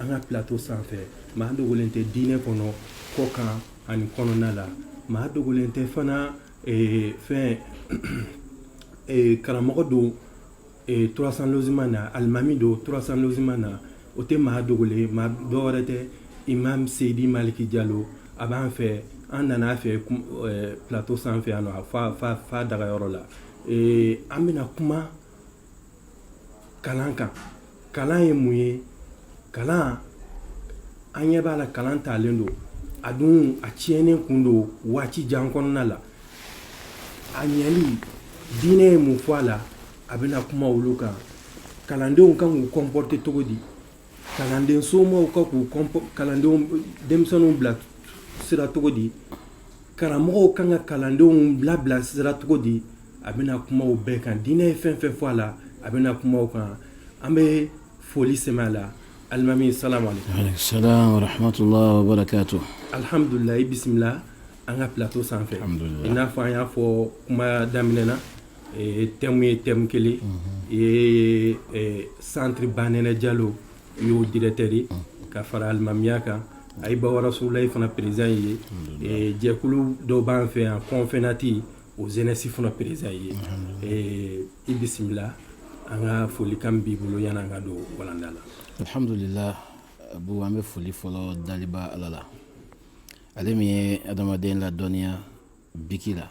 an ka plateau sanfɛ maa dogolen tɛ diinɛ kɔnɔ kɔkan ani kɔnɔna la maa dogolen tɛ fana eh, fɛn eh, karamɔgɔ don eh, trois cents logements na alimami don trois cents logements na o tɛ maa dogolen maa dɔwɛrɛ tɛ imam seyidi maliki jalo a b'an fɛ an nana a fɛ plateau sanfɛ yan nɔ fa fa fa dagayɔrɔ la an bɛna kuma kalan kan kalan ye mun ye kalan an ɲɛ b'a la kalan talen don a dun a tiɲɛnen kun don waati jan kɔnɔna la a ɲɛli diinɛ ye mun fɔ a la a bɛna kuma olu kan kalandenw kan k'u comporter cogo di kalanden somɔgɔw kan k'u kɔnp kalandenw denmisɛnninw bila sira cogo di karamɔgɔw kan ka kalandenw bila bila sira cogo di a bɛna kuma o bɛɛ kan diinɛ ye fɛn fɛn fɔ a la a bɛna kuma o kan an bɛ foli sɛmɛ a la alimami salamu aleykum salam wa rahmatullahi alihamdulila i bisimila an ka plateau sanfɛ i n'a fɔ an y'a fɔ kuma daminɛ na thème ye thème kelen i ye centre banɛnɛ jalo i y'o directeur ye ka fara alimamiya kan ayiba rasulilayi fana président ye jɛkulu dɔw b'an fɛ yan confenat o jeunesse fana président ye i bisimila an ka folikan b'i bolo yann'an ka don walanda la alihamdulila abu an bɛ foli fɔlɔ daliba ala la ale min ye adamaden ladɔnniya biki la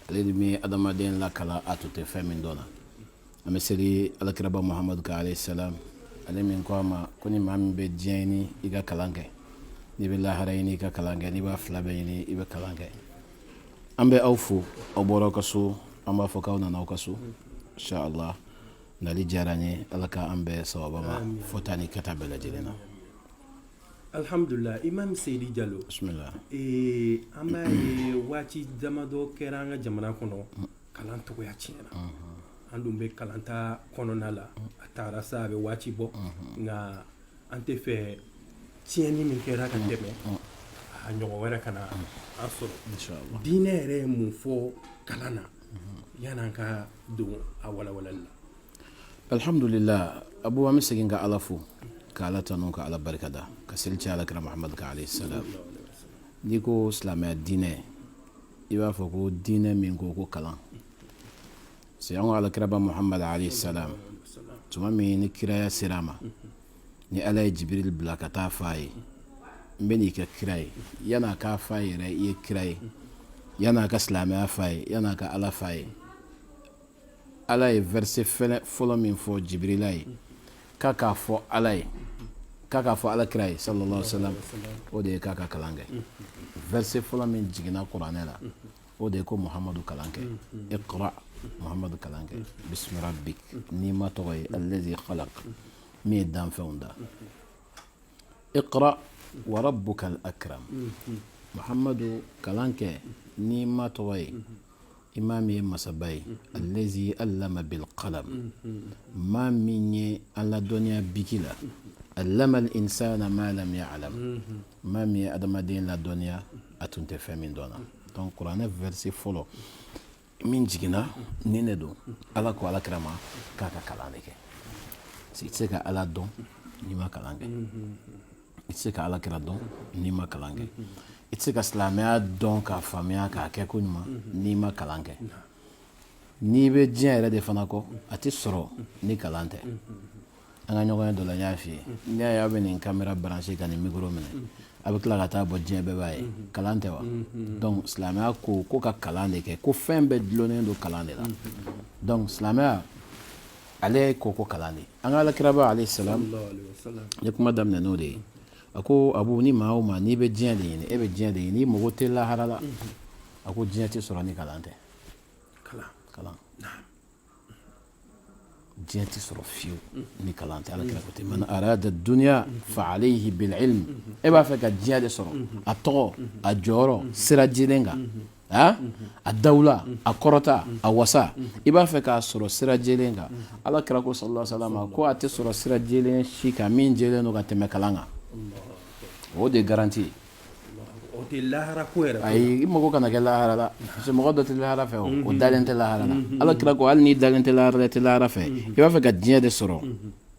ale min ye adamaden lakalan a tun tɛ fɛn min dɔn na an bɛ seli alakiraba muhamadu kan alayhi salam ale min ko an ma ko ni maa min bɛ diɲɛ ɲini i ka kalan kɛ n'i bɛ lahara ɲini i ka kalan kɛ n'i b'a fila bɛɛ ɲini i bɛ kalan kɛ an bɛ aw fo aw bɔra aw ka so an b'a fɔ k'aw nana aw ka so inshallah nali diyara n ye ala k'an bɛn sawaba ma fɔta ni kɛta bɛɛ lajɛlen na Alihamdulila imam seyidi jalo ee an b'a ye waati damadɔ kɛra an ka jamana kɔnɔ kalan cogoya tiɲɛna an dun bɛ kalanta kɔnɔna la a taara sa a bɛ waati bɔ nka an t'a fɛ tiɲɛni min kɛra ka tɛmɛ a ɲɔgɔn wɛrɛ kana an sɔrɔ diinɛ yɛrɛ ye mun fɔ kalan na yann'an ka don a walawalali la Alihamdulila abu an bɛ segin ka ala fo ka ala tanu ka ala barikada ka seli kɛ alakira muhamadu kan alayhi salam n'i ko silamɛya diinɛ i b'a fɔ ko diinɛ min ko ko kalan c'est an ka alakiraba muhamadu alayhi salam tuma min ni kiraya sera a ma ni ala ye jibiri bila ka taa fɔ a ye n b'i kɛ kira ye yann'a k'a fɔ a ye yɛrɛ i ye kira ye yann'a ka silamɛya f'a ye yann'a ka ala f'a ye ala ye verset fɔlɔ min fɔ jibirila ye k'a k'a fɔ ala ye k'a k'a fɔ ala kira ye sallallahu alaihi wasallam o de ye k'a ka kalan kɛ verset fɔlɔ min jiginna kuranɛ la o de ye ko muhamadu kalan kɛ iqra muhamadu kalan kɛ bismi rabbik n'i ma tɔgɔ ye allazi khalaq min ye danfɛnw da iqra wa rabbukal akram muhamadu kalan kɛ n'i ma tɔgɔ ye i ma min ye masaba ye allazi allama bil qalam maa min ye an ladɔnniya biki la allama al insana ma lam ya'lam maa min ye adamaden ladɔnniya a tun tɛ fɛn min dɔn na donc kuranɛ verset fɔlɔ min jiginna nin de don ala ko ala kira ma k'a ka kalan de kɛ parce que i tɛ se ka ala dɔn n'i ma kalan kɛ i tɛ se ka ala kira dɔn n'i ma kalan kɛ i tɛ se ka silamɛya dɔn k'a faamuya k'a kɛ ko ɲuman n'i ma kalan kɛ n'i bɛ diɲɛ yɛrɛ de fana kɔ a tɛ sɔrɔ ni kalan tɛ an ka ɲɔgɔnye dɔ la n y'a f'i ye n'i y'a ye aw bɛ nin kamera branché ka nin mikoro minɛ a bɛ tila ka taa bɔ diɲɛ bɛɛ b'a ye kalan tɛ wa donc silamɛya ko ko ka kalan de kɛ ko fɛn bɛɛ dulonnen don kalan de la donc silamɛya ale ye ko ko kalan de an ka alakiraba alayhi salam ye kuma daminɛ n'o de ye a ko abu ni maa o maa n'i bɛ diɲɛ de ɲini e bɛ diɲɛ de ɲini i mako tɛ lahara la a ko diɲɛ tɛ sɔrɔ ni kalan tɛ kalan diɲɛ tɛ sɔrɔ fiyewu ni kalan tɛ ala kira ko ten man arada duniya fa alayhi bil ilm e b'a fɛ ka diɲɛ de sɔrɔ a tɔgɔ a jɔyɔrɔ sira jɛlen kan a dawula a kɔrɔta a wasa i b'a fɛ k'a sɔrɔ sira jɛlen kan ala kira ko sallallahu alaihi wasallam ko a tɛ sɔrɔ sira jɛlen si kan min jɛlen don ka tɛmɛ kalan kan o de ye garanti ye ayi i mako kana kɛ lahara la parce que mɔgɔ dɔ tɛ lahara fɛ o dalen tɛ lahara la ala kira ko hali n'i dalen tɛ lahara la i tɛ lahara fɛ i b'a fɛ ka diɲɛ de sɔrɔ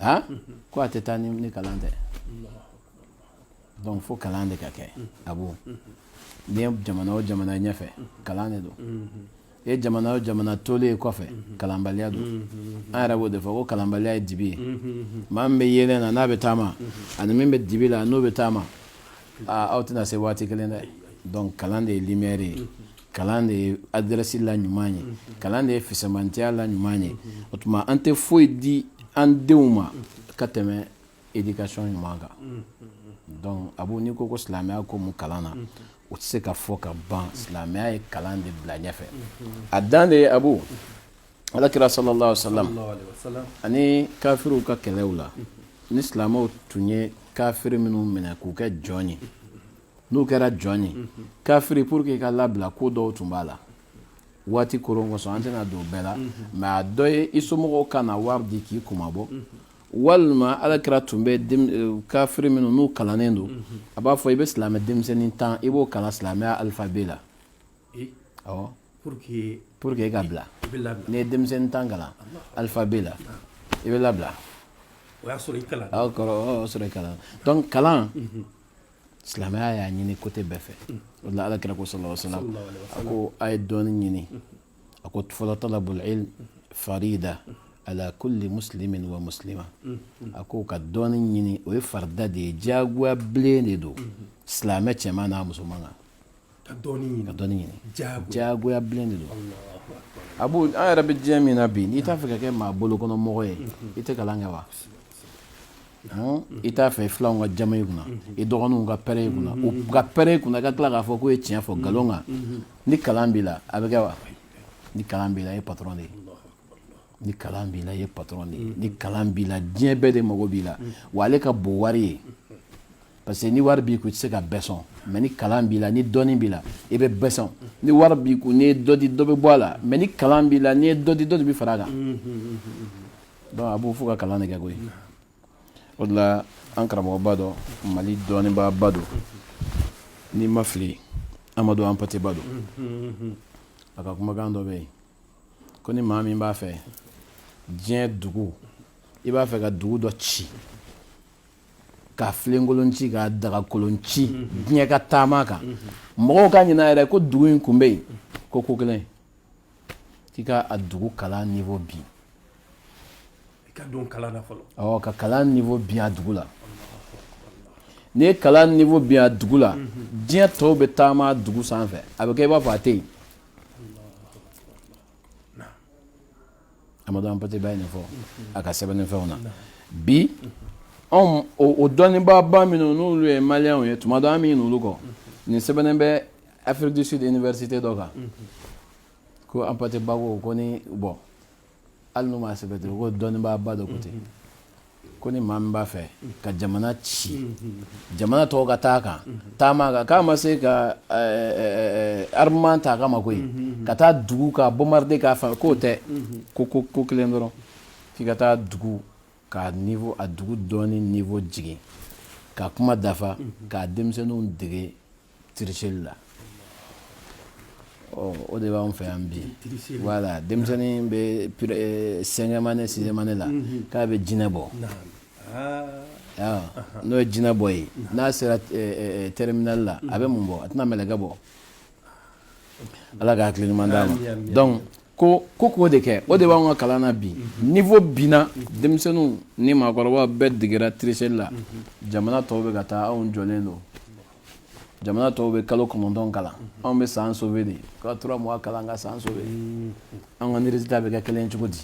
A ko a tɛ taa ni kalan tɛ donc fo kalan de ka kɛ abu n'i ye jamana o jamana ɲɛfɛ kalan de don i ye jamana o jamana tolen ye kɔfɛ kalanbaliya don an yɛrɛ b'o de fɔ ko kalanbaliya ye dibi ye maa min bɛ yeelen na n'a bɛ taama ani min bɛ dibi la n'o bɛ taama aw tɛna se waati kelen dɛ donc kalan de ye lumière ye kalan de ye adrɛsi la ɲuman ye kalan de ye fisamantiya la ɲuman ye o tuma an tɛ foyi di an denw ma ka tɛmɛ éducation ɲuman kan donc abu n'i ko ko silamɛya ko mun kalan na o tɛ se ka fɔ ka ban silamɛya ye kalan de bila ɲɛfɛ a dan de ye abu alakira sallallahu alaihi wasallam ani kafiriw ka kɛlɛw la ni silamɛw tun ye kafiri minnu minɛ k'u kɛ jɔn ye n'u kɛra jɔn ye kafiri pour que i ka labila ko dɔw tun b'a la waati ko kosɔn an tɛna don bɛɛ la mais a dɔ ye i somɔgɔw ka na wari di k'i kunmabɔ walima ala kira tun bɛ eh, kafiri minnu n'u kalannen don a b'a fɔ i bɛ silamɛ denmisɛnnin tan i b'o kalan silamɛya alphabet la pour que i ka bila n'i ye denmisɛnnin tan kalan alphabet la i bɛ labila o y'a sɔrɔ i kalan kalan kalan silamɛya y'a ɲini côté bɛɛ fɛ o la ala kira ko sallallahu alaihi wasallam a ko a ye dɔnni ɲini a ko fɔlɔ talabul ilm farida ala kulli muslimin wa muslima a ko ka dɔnni ɲini o ye farida de ye diyagoya bilen de don silamɛ cɛman n'a musoman kan ka ka dɔnni ɲini jagoya bilen de don abu an yɛrɛ bɛ diɲɛ min na bi n'i t'a fɛ ka kɛ maa bolo kɔnɔ mɔgɔ ye i tɛ kalan kɛ wa i t'a fɛ filanw ka jaman i kunna i dɔgɔninw ka pɛrɛn i kunna u ka pɛrɛn i kunna ka tila k'a fɔ k'o ye tiɲɛ fɔ nkalon kan ni kalan b'i la a bɛ kɛ wa ni kalan b'i la i ye patron de ye ni kalan b'i la i ye patron de ye ni kalan b'i la diɲɛ bɛɛ de mago b'i la wa ale ka bon wari ye parce que ni wari b'i kun i tɛ se ka bɛɛ sɔn mais ni kalan b'i la ni dɔnni b'i la i bɛ bɛɛ sɔn ni wari b'i kun n'i ye dɔ di dɔ bɛ bɔ a la mais ni kalan b'i la n'i ye dɔ di dɔ de bɛ fara a kan donc abu fo ka kalan de kɛ koyi o de la an karamɔgɔba dɔ mali dɔnnibaaba don ni n ma fili amadu ampate ba don a ka kumakan dɔ bɛ yen ko ni maa min b'a fɛ diɲɛ dugu i b'a fɛ ka dugu dɔ ci ka filenkolon ci ka dagakolon ci mhm. diɲɛ ka taama a kan mhm. mɔgɔw ka ɲinɛ yɛrɛ ko dugu in kun bɛ yen ko ko kelen k'i ka a dugu kalan niveau bin ka don kalan na fɔlɔ awɔ ka kalan niveau bin a dugu la n'i ye kalan niveau bin a dugu la mhm. diɲɛ tɔw bɛ taama a dugu sanfɛ a bɛ kɛ i b'a fɔ a tɛ yen amadu ampate ba ye nin fɔ a ka sɛbɛnni fɛnw na bi anw o dɔnnibaaba minnu n'olu ye maliyɛnw ye tuma dɔ an bɛ ɲinɛ olu kɔ nin sɛbɛnnen bɛ afrique du sud université dɔ kan ko ampate ba ko ko ni bon hali n'u m'a sɛbɛn ten ko dɔnnibaaba dɔ ko ten Ko ni maa min b'a fɛ ka jamana ci jamana tɔw ka taa a kan taama a kan k'a ma se ka armement ta a kama koyi ka taa dugu ka bombarder k'a fɛ k'o tɛ ko ko ko kelen dɔrɔn k'i ka taa dugu ka a dugu dɔnni niveau jigin ka kuma dafa k'a denmisɛnninw dege tricherie la o de b'an fɛ yan bi voilà denmisɛnnin bɛ eh, cinquième année sixième année la mm-hmm. k'a bɛ jinɛ bɔ ah. n'o ye jinɛ bɔ ye n'a sera eh, eh, terminal la a bɛ mun bɔ a tɛna mɛlɛkɛ bɔ ala ka hakili ɲuman d'a ma donc ko ko k'o de kɛ o de b'an ka kalan na bi mhm. niveau binna mhm. denmisɛnninw ni maakɔrɔbaw bɛɛ degera tricherie la mhm. jamana tɔw bɛ ka taa anw jɔlen don jamana tɔw bɛ kalo kɔnɔntɔn kalan anw bɛ san sauvé de ka trois mois kalan ka san sauvé an ka résultat bɛ kɛ kelen cogo di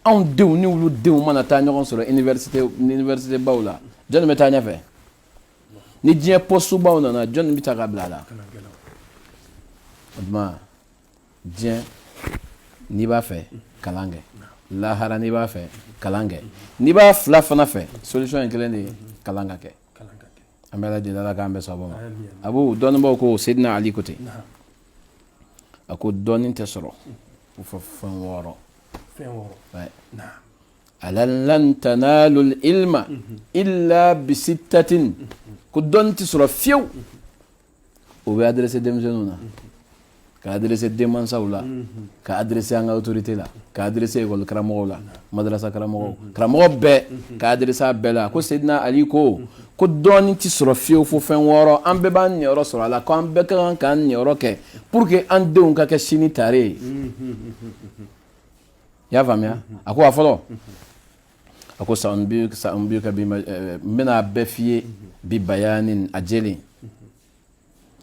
anw denw ni olu denw mana taa ɲɔgɔn sɔrɔ université université baw la jɔni bɛ taa ɲɛfɛ ni diɲɛ poste baw nana jɔni bɛ ta ka bila a la o tuma diɲɛ n'i b'a fɛ kalan kɛ lahara n'i b'a fɛ kalan kɛ n'i b'a fila fana fɛ solution ye kelen de ye kalan ka kɛ an bɛɛ lajɛlen ala k'an bɛɛ saba ma a b'o dɔnnibaw ko Seydina Ali ko ten a ko dɔnni tɛ sɔrɔ ko fo fɛn wɔɔrɔ ala lan tanalul ilma illa bisittatin ko dɔnni tɛ sɔrɔ fiyewu o bɛ adressé denmisɛnninw na ka adressé denmansaw la ka adressé an ka autorité la ka adressé école karamɔgɔw la madarasa karamɔgɔw karamɔgɔ bɛɛ ka adressé a bɛɛ la ko Seydina Ali ko ko dɔnni tɛ sɔrɔ fiyewu fo fɛn wɔɔrɔ an bɛɛ b'an niyɔrɔ sɔrɔ a la ko an bɛɛ ka kan k'an niyɔrɔ kɛ pour que an denw ka kɛ sini tare ye i y'a faamuya a ko a fɔlɔ a ko saunbika n bɛna a bɛɛ f'i ye bi bayani a jɛlen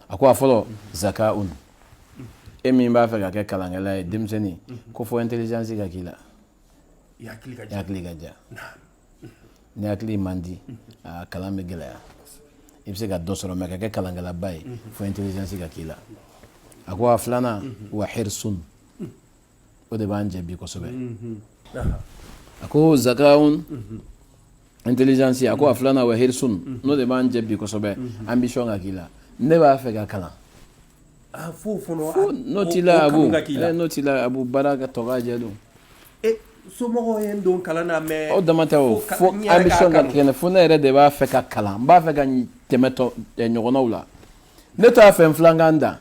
a ko a fɔlɔ zakaun e min b'a fɛ ka kɛ kalankɛla ye denmisɛnnin ko fo intelligence ka k'i la i hakili ka diya ni hakili man di a kalan bɛ gɛlɛya i bɛ se ka dɔ sɔrɔ mais ka kɛ kalankɛlaba ye fo intelligence ka k'i la a ko a filanan wa hirsun o de b'an jɛ bi kosɛbɛ a ko zakaun intelligence a ko a filanan wa hirsun n'o de b'an jɛ bi kosɛbɛ ambition ka k'i la ne b'a fɛ ka kalan n'o t'i la n'o t'i la a b'u baara ka tɔgɔ jɛ don somɔgɔw ye n don kalan na mais o dama tɛ o fo ambition ka kɛ n na fo ne yɛrɛ de b'a fɛ ka kalan n b'a fɛ ka tɛmɛ ɲɔgɔnnaw la ne t'a fɛ n filan ka n dan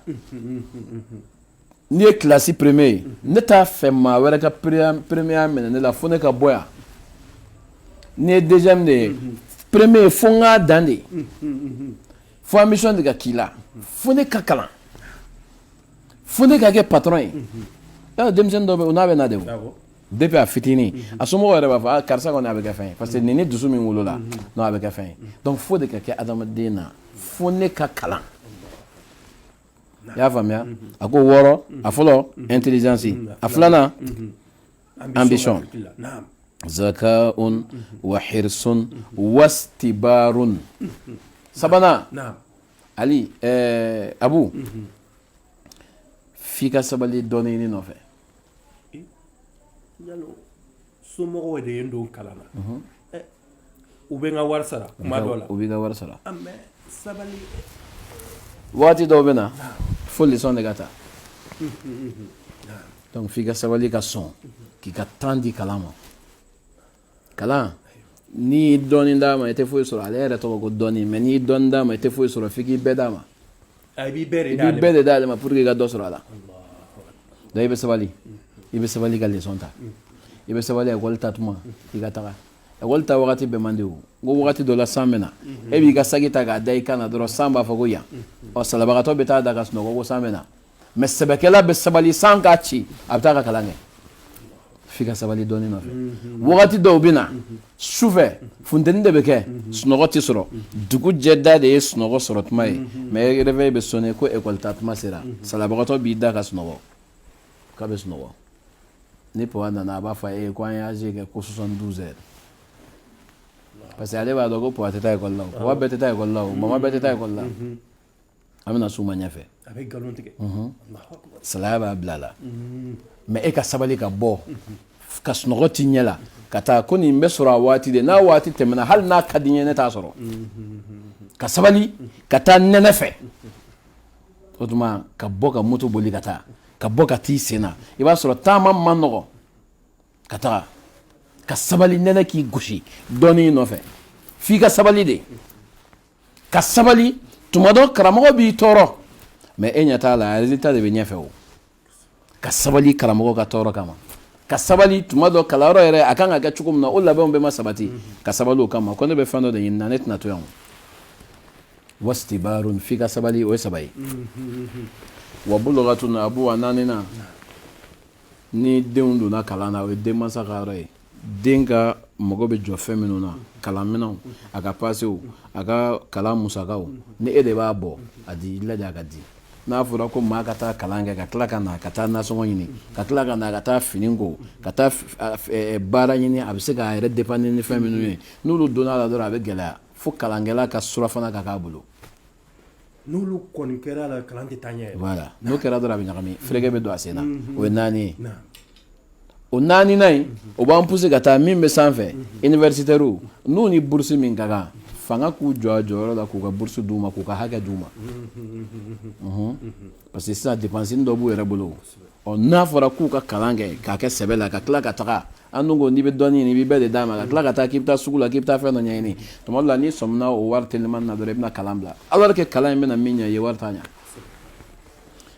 N'i ye classe premier ye ne t'a fɛ maa wɛrɛ ka premier minɛ ne la fo ne ka bɔ yan n'i ye deuxième de ye premier fo n k'a dan de fo ambition de ka k'i la fo ne ka kalan fo ne ka kɛ patron ye denmisɛn dɔ n'a bɛ na de depuis a fitinin a somɔgɔw yɛrɛ b'a fɔ ah, karisa kɔni a bɛ kɛ fɛn ye parce que nin ni dusu min wolola n'a bɛ kɛ fɛn ye donc fo de ka kɛ adamaden na fo ne ka kalan i y'a faamuya a ko wɔɔrɔ a fɔlɔ intelligence a filanan ambition zakaun wa hirsun wastibarun sabanan ali abu f'i ka sabali dɔnni ɲini nɔfɛ somɔgɔw de ye n don kalan na u bɛ n ka wari sara tuma dɔ la u b'i ka wari sara mais sabali waati dɔw bɛ na fo leçon de ka ta donc f'i ka sabali ka sɔn k'i ka temps di kalan ma kalan n'i ye dɔɔnin d'a ma i tɛ foyi sɔrɔ ale yɛrɛ tɔgɔ ko dɔnni mais n'i ye dɔɔnin d'a ma i tɛ foyi sɔrɔ f'i k'i bɛɛ d'a ma i b'i bɛɛ de d'ale ma pour que i ka dɔ sɔrɔ a la donc i bɛ sabali i bɛ sabali ka leçon ta i bɛ sabali école taa tuma i ka taga école taa wagati bɛɛ man di o n ko wagati dɔ la san bɛ na e b'i ka saki ta k'a da i kan na dɔrɔn san b'a fɔ ko yan ɔ salabagatɔ bɛ taa da ka sunɔgɔ ko san bɛ na mais sɛbɛkɛla bɛ sabali san k'a ci a bɛ taa ka kalan kɛ f'i ka sabali dɔnni nɔfɛ wagati dɔw bɛ na sufɛ funteni de bɛ kɛ sunɔgɔ tɛ sɔrɔ dugu jɛda de ye sunɔgɔ sɔrɔ tuma ye mais réveil bɛ sonner ko école taa tuma sera salabagatɔ b'i da ka sunɔgɔ k'a bɛ sunɔgɔ ni papa nana a b'a fɔ a ye ko an ye AG kɛ ko 72 heures parce que ale b'a dɔn ko papa tɛ taa école la o papa bɛɛ tɛ taa école la o mama bɛɛ tɛ taa école la an bɛna s'u ma ɲɛfɛ salaya b'a bila a la mais e ka sabali ka bɔ ka sunɔgɔ t'i ɲɛ la ka taa ko nin bɛ sɔrɔ a waati de n'a waati tɛmɛna hali n'a ka di n ye ne t'a sɔrɔ ka sabali ka taa nɛnɛ fɛ o tuma ka bɔ ka moto boli ka taa ka bɔ ka t'i sen na i b'a sɔrɔ taama man nɔgɔ ka taga ka sabali nɛnɛ k'i gosi dɔnni nɔfɛ f'i ka sabali de ka sabali tuma dɔ karamɔgɔ b'i tɔɔrɔ mais e ɲɛ t'a la résultat de bɛ ɲɛfɛ o ka sabali karamɔgɔ ka tɔɔrɔ kama ka sabali tuma dɔ kalanyɔrɔ yɛrɛ a kan ka kɛ cogo min na o labɛnw bɛɛ ma sabati ka sabali o kama ko ne bɛ fɛn dɔ de ɲini na ne tɛna to yan wastibarun f'i ka sabali o ye saba ye wa bulugatun abu a naaninan ni denw donna kalan na o ye denmansa ka yɔrɔ ye den ka mago bɛ jɔ fɛn minnu na kalanminɛnw a ka pasew a ka kalan musakaw ni e de b'a bɔ a di i lajɛ a ka di n'a fɔra ko maa ka taa kalan kɛ ka tila ka na ka taa nasɔngɔ ɲini ka tila ka na ka taa fini ko ka taa baara ɲini a bɛ se k'a yɛrɛ dépanner ni fɛn minnu ye n'olu donna la dɔrɔn a bɛ gɛlɛya fo kalankɛla ka surafana ka k'a bolo n'olu kɔni kɛra la kalan tɛ taa ɲɛ voilà n'o kɛra dɔrɔn a bɛ ɲagami fɛrɛkɛ bɛ don a sen na o ye naani ye o naaninan in o b'an pousser ka taa min bɛ sanfɛ universitaires n'u ni bourse min ka kan fanga k'u jɔ a jɔyɔrɔ la k'u ka bourse d'u ma k'u ka hakɛ d'u ma parce que sisan dépense dɔ b'u yɛrɛ bolo ɔ n'a fɔra k'u ka kalan kɛ k'a kɛ sɛbɛ la ka tila ka taga an dun ko n'i bɛ dɔnni ɲini i b'i bɛɛ de d'a ma ka tila ka taa k'i bɛ taa sugu la k'i bɛ taa fɛn dɔ ɲɛɲini tuma dɔ la n'i sɔmina o wari telimani na dɔrɔn i bɛna kalan bila alors que kalan in bɛna min ɲɛ i ye wari t'a ɲɛ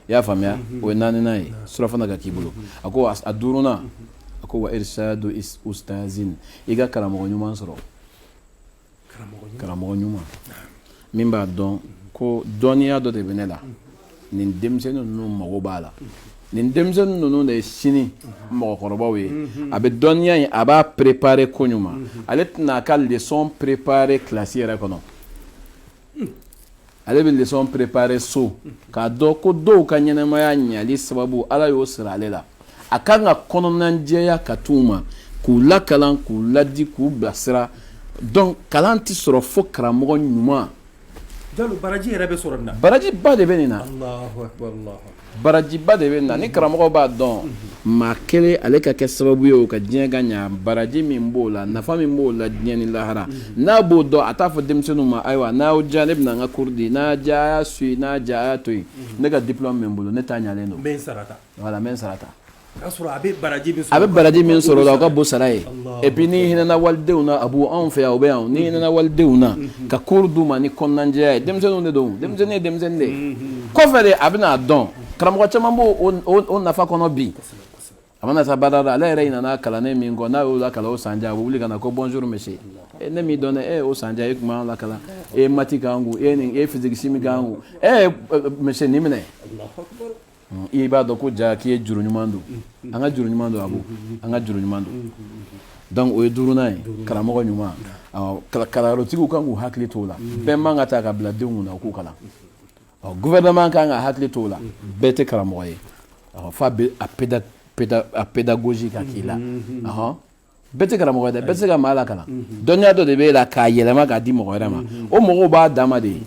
i y'a faamuya o ye naaninan ye surafana ka k'i bolo a ko a duurunan a ko wa irsadu ustazin i ka karamɔgɔ ɲuman sɔrɔ karamɔgɔ ɲuman min b'a dɔn ko dɔnniya dɔ de bɛ ne la nin denmisɛnnin ninnu mago b'a la nin denmisɛnnin ninnu de ye sini mɔgɔkɔrɔbaw ye a bɛ dɔnniya in a b'a préparer ko ɲuman ale tɛna a ka leçon préparer classe yɛrɛ kɔnɔ ale bɛ leçon préparer so k'a dɔn ko dɔw ka ɲɛnamaya ɲali sababu ala y'o siri ale la a kan ka kɔnɔnajɛya ka t'u ma k'u lakalan k'u ladi k'u bilasira donc kalan tɛ sɔrɔ fo karamɔgɔ ɲuman baraji yɛrɛ bɛ sɔrɔ nin na barajiba de bɛ nin na barajiba de bɛ nin na ni karamɔgɔ b'a dɔn maa kelen ale ka kɛ sababu ye o ka diɲɛ ka ɲa baraji min b'o la nafa min b'o la diɲɛ ni lahara n'a b'o dɔn a t'a fɔ denmisɛnninw ma ayiwa n'aw diya ne bɛna n ka cours di n'a diya a y'a suivre n'a diya a y'a to yen ne ka diplôme bɛ n bolo ne ta ɲalen don voilà n bɛ n sara ta A bɛ baraji min sɔrɔ o la o ka bon sara ye et puis n'i hinɛna walidenw na a b'anw fɛ o bɛ yan n'i hinɛna walidenw na ka cours d'u ma ni kɔnɔnajɛya ye denmisɛnninw de don denmisɛnnin ye denmisɛnnin de ye kɔfɛ de a bɛna n'a dɔn karamɔgɔ caman b'o nafa kɔnɔ bi a mana taa baada la ale yɛrɛ ɲinana kalanden min kɔ n'a y'o lakalan o san jan a bɛ wuli ka na ko bonjour monsieur ne m'i dɔn dɛ o san e tun b'an lakalan e ye maths k'an kun e ye physique chimie k'an kun monsieur nin minɛ i b'a dɔn ko ja k'i ye juru ɲuman don an ka juru ɲuman don a ko an ka juru ɲuman don donc o ye duurunan ye karamɔgɔ ɲuman kalanyɔrɔtigiw kan k'u hakili t'o la bɛɛ man ka taa ka bila denw kunna k'u kalan gouvernement kan ka hakili t'o la bɛɛ tɛ karamɔgɔ ye fo a pédagogie ka k'i la bɛɛ tɛ karamɔgɔ ye dɛ bɛɛ tɛ se ka maa lakalan dɔnniya dɔ de b'e la k'a yɛlɛma k'a di mɔgɔ wɛrɛ ma o mɔgɔw b'a dama de ye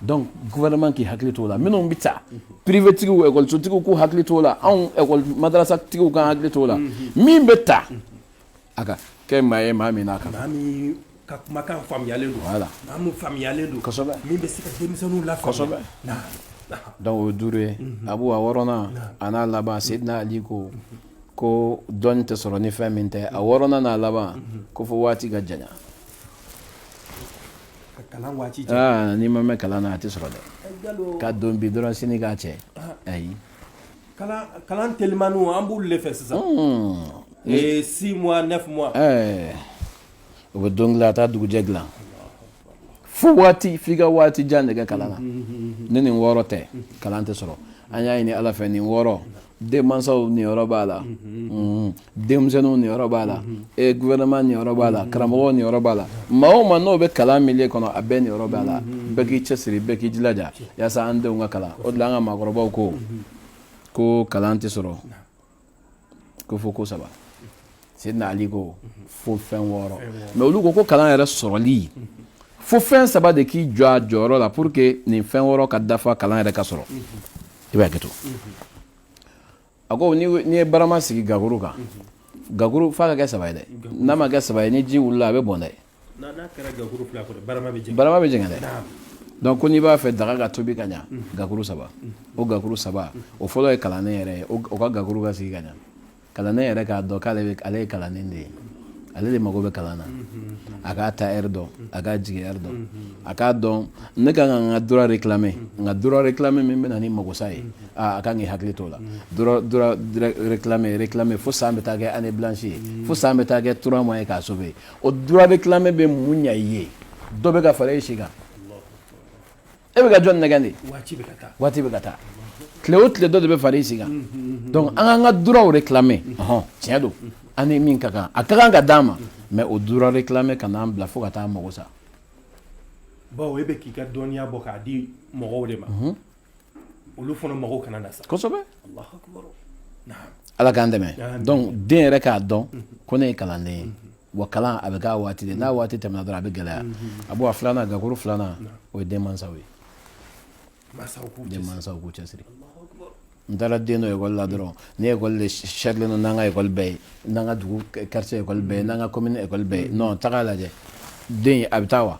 donc gouvernement k'i hakili t'o la minnu bɛ ta privé tigiw ekɔlisotigiw k'u hakili t'o la anw ekɔli madarasa tigiw k'an hakili t'o la min bɛ ta a ka kɛ maa ye maa min n'a kan maa min ka kumakan faamuyalen don voilà maa min faamuyalen don kosɛbɛ min bɛ se ka denmisɛnninw lafaamuya kosɛbɛ donc o ye duuru ye abu a wɔɔrɔnan a n'a laban sedina ali ko ko dɔnni tɛ sɔrɔ ni fɛn min tɛ a wɔɔrɔnan n'a laban ko fo waati ka janya n'i ma mɛn kalan na a tɛ sɔrɔ dɛ ka don bi dɔrɔn sini k'a cɛ ayi kalan telimaniw an b'u de fɛ sisan six mois neuf mois o bɛ don a taa dugujɛ dilan fo waati f'i ka waati jan de kɛ kalan na ni nin wɔɔrɔ tɛ kalan tɛ sɔrɔ an y'a ɲini ala fɛ nin wɔɔrɔ denmansaw niyɔrɔ b'a la mm-hmm. denmisɛnninw niyɔrɔ b'a la mm-hmm. e gouvernement niyɔrɔ b'a la mm-hmm. karamɔgɔw niyɔrɔ b'a la maa o maa n'o bɛ kalan milieu kɔnɔ a bɛɛ niyɔrɔ b'a la bɛɛ k'i cɛsiri bɛɛ k'i jilaja yaasa an denw ka kalan o de la an ka maakɔrɔbaw ko ko kalan tɛ sɔrɔ ko fo ko saba sedina ali ko fo fɛn wɔɔrɔ mais olu ko ko kalan yɛrɛ sɔrɔli fo fɛn saba de k'i jɔ a jɔyɔrɔ la pour que nin fɛn wɔɔrɔ ka dafa kalan yɛrɛ ka sɔrɔ i b'a kɛ to a ko n'i ye barama sigi gakuru kan gakuru f'a ka kɛ saba ye dɛ n'a ma kɛ saba ye ni ji wulila a bɛ bɔn dɛ dɛ ko n'i b'a fɛ daga ka tobi ka ɲɛ gakuru saba o gakuru saba o fɔlɔ ye kalanden yɛrɛ ye o ka gakuru ka sigi ka ɲɛ kalanden yɛrɛ k'a dɔn k'ale ale ye kalanden de ye ale de mago bɛ kalan na a k'a taa heure dɔn a k'a jigin heure dɔn a k'a dɔn ne ka kan ka n ka droit réclamer n ka droit réclamer min bɛna ni magosa ye a ka kan k'i hakili t'o la droit réclamer fo san bɛ taa kɛ année blanche ye fo san bɛ taa kɛ trois mois ye k'a sauver o droit réclamer bɛ mun ɲa i ye dɔ bɛ ka fara e si kan e bɛ ka jɔn nɛgɛn de waati bɛ ka taa tile o tile dɔ de bɛ fara i si kan donc an k'an ka droit réclamer ɔhɔn tiɲɛ don an ni min ka kan a ka kan ka d'an ma mais o droit réclamer kan'an bila fo ka taa mago sa bawo e bɛ k'i ka dɔnniya bɔ k'a di mɔgɔw de ma olu fana mago kana na sa kosɛbɛ ala k'an dɛmɛ donc den yɛrɛ k'a dɔn ko ne ye kalanden ye wa kalan a bɛ k'a waati de n'a waati tɛmɛna dɔrɔn a bɛ gɛlɛya abu a filanan gakuru filanan o ye denmansaw ye denmansaw k'u cɛsiri n taara den don ekɔli la dɔrɔn nin ekɔli de sarilen don n'an ka ekɔli bɛɛ ye n'an ka dugu quartier ekɔli bɛɛ ye n'an ka commune ekɔli bɛɛ ye non taga lajɛ den a bɛ taa wa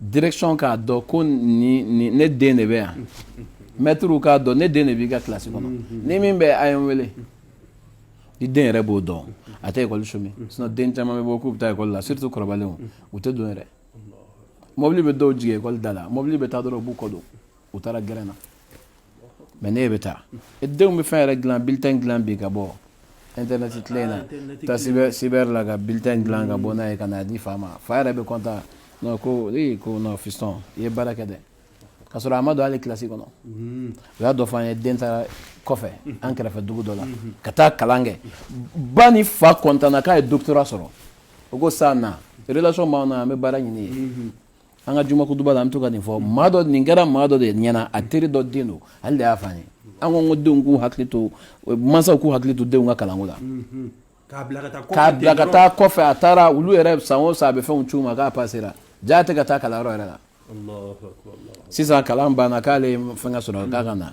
direction k'a dɔn ko ne den de bɛ yan maître k'a dɔn ne den de b'i ka kilasi kɔnɔ ni min bɛ a ye n wele n'i den yɛrɛ b'o dɔn a tɛ ekɔli chômer sinon den caman bɛ bɔ k'u bɛ taa ekɔli la surtout kɔrɔbalenw u tɛ don yɛrɛ mɔbili bɛ dɔw jigin ekɔli da la mɔbili bɛ taa dɔrɔn u b'u kɔ don u taara gɛrɛn na mais ne bɛ taa e denw bɛ fɛn yɛrɛ dilan bulletin dilan bi ka bɔ internet tile in na taa cyber la ka bulletin dilan ka bɔ n'a ye ka n'a di fa ma fa yɛrɛ bɛ content ko ee ko non fiston i ye baara kɛ dɛ ka sɔrɔ a ma don hali kilasi kɔnɔ u y'a dɔ fɔ an ye den taara kɔfɛ an kɛrɛfɛ dugu dɔ la ka taa kalan kɛ ba ni fa kɔntanna k'a ye doctorat sɔrɔ o ko sa na relation b'an na an bɛ baara ɲini ye an ka juma kutuba la an bɛ to ka nin fɔ maa dɔ nin kɛra maa dɔ de ɲɛna a teri dɔ den don ale de y'a fɔ an ye an ko ko denw k'u hakili to mansaw k'u hakili to denw ka kalanko la k'a bila ka taa kɔfɛ a taara olu yɛrɛ san o san a bɛ fɛnw c'u ma k'a pasera jaa a tɛ ka taa kalanyɔrɔ yɛrɛ la sisan kalan banna k'ale fɛn ka sɔrɔ k'a ka na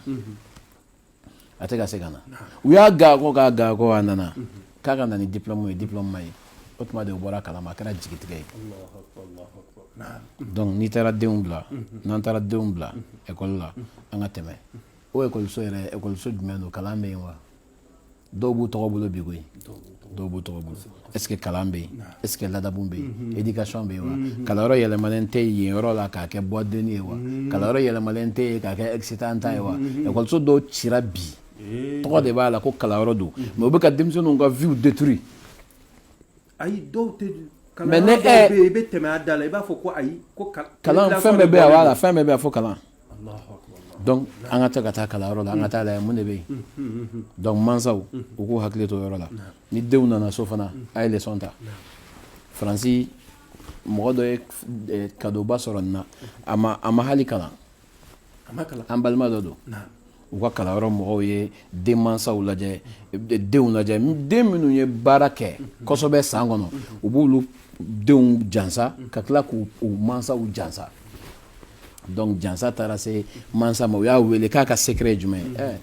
a tɛ ka se ka na u y'a gakɔ k'a gakɔ a nana k'a ka na ni diplôme ye diplôme ma ye o tuma de o bɔra kalama a kɛra jigitigɛ ye donc n'i taara denw bila n'an taara denw bila école la an ka tɛmɛ o école so yɛrɛ école so jumɛn don kalan bɛ yen wa dɔw b'u tɔgɔ bolo bi koyi dɔw b'u tɔgɔ bolo est ce que kalan bɛ yen est ce que ladamu bɛ yen éducation bɛ yen wa kalanyɔrɔ yɛlɛmalen tɛ yen yɔrɔ la k'a kɛ boîte de nuit ye wa kalanyɔrɔ yɛlɛmalen tɛ yen k'a kɛ excitant ta ye wa ekɔliso dɔw cira bi tɔgɔ de b'a la ko kalanyɔrɔ don mais u bɛ ka denmisɛnninw ka vie détruit ayi dɔw tɛ kalan Mais ne- dɔw eh. bɛ yen i bɛ tɛmɛ a da la i b'a fɔ ko ayi ko ka- kalan i bɛ fɛn bɛɛ bɛ yan wala bɔlen fɛn bɛɛ bɛ yan fo kalan don. Alahu akibar. donc an ka taa ka taa kalanyɔrɔ la an ka taa lajɛ mun de bɛ yen donc mansaw u k'u hakili to o yɔrɔ la ni denw nana so fana a ye leçon ta faransi mɔgɔ dɔ ye eh, kadoba sɔrɔ nin na a ma a ma hali kalan an balima dɔ don u ka kalanyɔrɔ mɔgɔw ye den mansaw lajɛ denw lajɛ den minnu ye baara kɛ kosɛbɛ san kɔnɔ u b'olu denw jansa ka tila k'u mansaw jansa donc jansa taara se mansa ma u y'a wele k'a ka secret ye jumɛn ye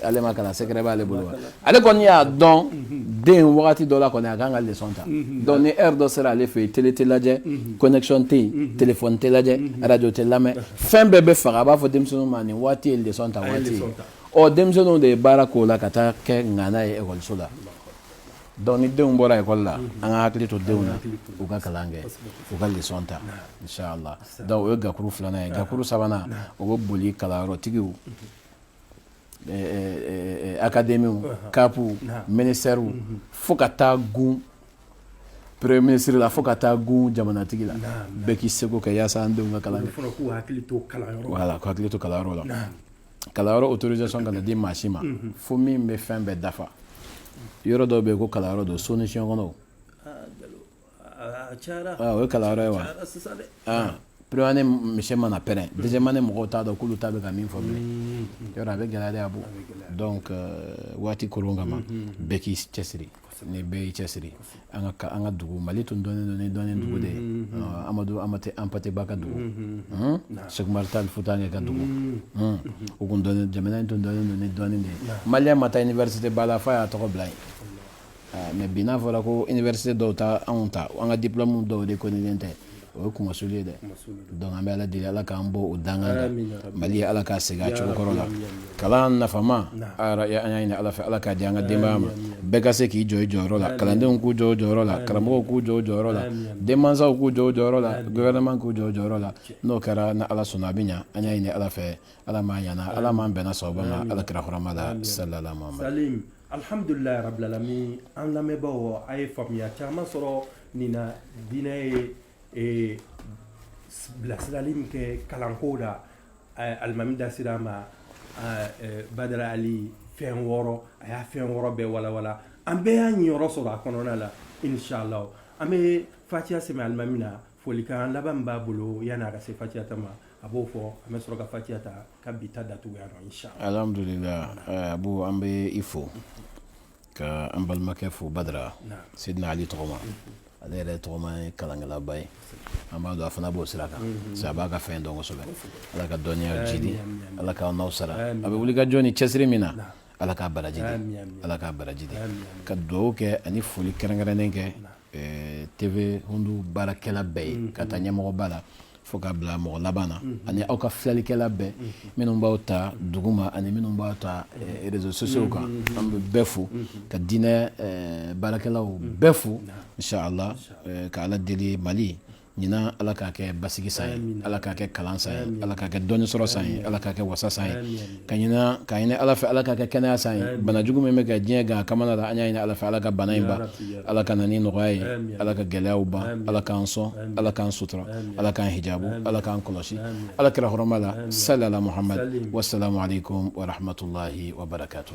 ale ma kalan secret b'ale bolo ale kɔni y'a dɔn den wagati dɔ la kɔni a kan ka leçon ta donc ni heure dɔ sera ale fɛ yen tele tɛ lajɛ connexion tɛ yen téléphone tɛ lajɛ arajo tɛ lamɛn fɛn bɛɛ bɛ faga a b'a fɔ denmisɛnninw ma nin waati ye leçon ta waati ye denmisɛnninw de ye baara k'o la ka taa kɛ ŋana ye ekɔliso la donc ni denw bɔra ekɔli la an ka hakili to denw na u ka kalan kɛ u ka leçon ta la donc o ye gakuru filanan ye gakuru sabanan o bɛ boli kalanyɔrɔtigiw Akademiw kapuw minisitɛriw fo ka taa gun premier ministre la fo ka taa gun jamanatigi la bɛɛ k'i seko kɛ yaasa an denw ka kalan kɛ voilà k'u hakili to kalanyɔrɔ la kalanyɔrɔ autorisation kana di maa si ma fo min bɛ fɛn bɛɛ dafa yɔrɔ dɔw bɛ yen ko kalanyɔrɔ don so ni si kɔnɔ o ye kalanyɔrɔ ye wa première année monsieur mana pɛrɛn deuxième année mɔgɔw t'a dɔn k'olu ta bɛ ka min fɔ yɔrɔ a bɛ gɛlɛya a bɔ donc waati kolon kama bɛɛ k'i cɛsiri ni bɛɛ y'i cɛsiri an ka an ka dugu mali tun dɔnnen don ni dɔnni dugu de ye amadu hampate ba ka dugu sɛku umaru tal futankɛ ka dugu u tun jamana in tun dɔnnen don ni dɔnni de ye maliyɛn ma taa université ba la fo a y'a tɔgɔ bila yen ah, mais bi n'a fɔra ko université dɔw ta anw ta an ka diplôme dɔw reconnulen tɛ o ye kumasuli ye dɛ donc an bɛ ala deli ala k'an bɔ o danga la mali ye ala k'a segin a cogo kɔrɔ la kalan nafama an y'a ɲini ala fɛ ala k'a di an ka denbaya ma bɛɛ ka se k'i jɔ i jɔyɔrɔ la kalandenw k'u jɔ u jɔyɔrɔ la karamɔgɔw k'u jɔ u jɔyɔrɔ la denmansaw k'u jɔ u jɔyɔrɔ la gouvernement k'u jɔ u jɔyɔrɔ la n'o kɛra ni ala sɔnna a bɛ ɲɛ an y'a ɲini ala fɛ ala m'an ɲana ala m'an bɛnna sababu ma ala kira hɔrɔma la sala Alihamdulila rabilalamin an lamɛnbaaw a ye faamuya caman sɔrɔ nin na diinɛ ye ee bilasirali min kɛ kalanko la alimami da sira ma badara ali fɛn wɔɔrɔ a y'a fɛn wɔɔrɔ bɛɛ walawala an bɛɛ y'an niyɔrɔ sɔrɔ a kɔnɔna la inshallah an bɛ fatiya sɛmɛ alimami na folikan laban min b'a bolo yani a ka se fatiya ta ma a b'o fɔ an bɛ sɔrɔ ka fatiya ta ka bi ta datugu yan nɔ inshallah alhamdulillah eh, abu an bɛ i fo ka an balimakɛ fo badara sidina ali tɔgɔma ale yɛrɛ tɔgɔma ye kalankɛlaba ye an b'a dɔn a fana b'o sira kan mhm. sa a b'a ka fɛn dɔn kosɛbɛ ala ka dɔnniya jidi ala k'aw n'aw sara a bɛ wuli ka jɔ ni cɛsiri min na ala k'a baraji di ala k'a baraji di ka dugawu kɛ ani foli kɛrɛnkɛrɛnnen kɛ eh, TV Hundu baarakɛla bɛɛ ye k'a ta ɲɛmɔgɔba la fo k'a bila mɔgɔ laban na ani aw ka filalikɛla bɛɛ minnu b'aw ta dugu ma ani minnu b'aw ta eh, réseaux sociaux kan an bɛ bɛɛ fo ka diinɛ eh, baarakɛlaw bɛɛ fo inshallah ka Ala deli Mali ɲinan ala k'a kɛ basigi san ye ala k'a kɛ kalan san ye ala k'a kɛ dɔnni sɔrɔ san ye ala k'a kɛ wasa san ye ka ɲinan k'a ɲini ala fɛ ala k'a kɛ kɛnɛya san ye bana jugu min bɛ ka diɲɛ gan kamana la an y'a ɲini ala fɛ ala ka bana in ban ala ka na ni nɔgɔya ye ala ka gɛlɛyaw ban ala k'an sɔn ala k'an sutura ala k'an hijabu ala k'an kɔlɔsi ala kira hɔrɔma la salala muhamadu wasalamu aleykum wa rahmatulahi wa barakatu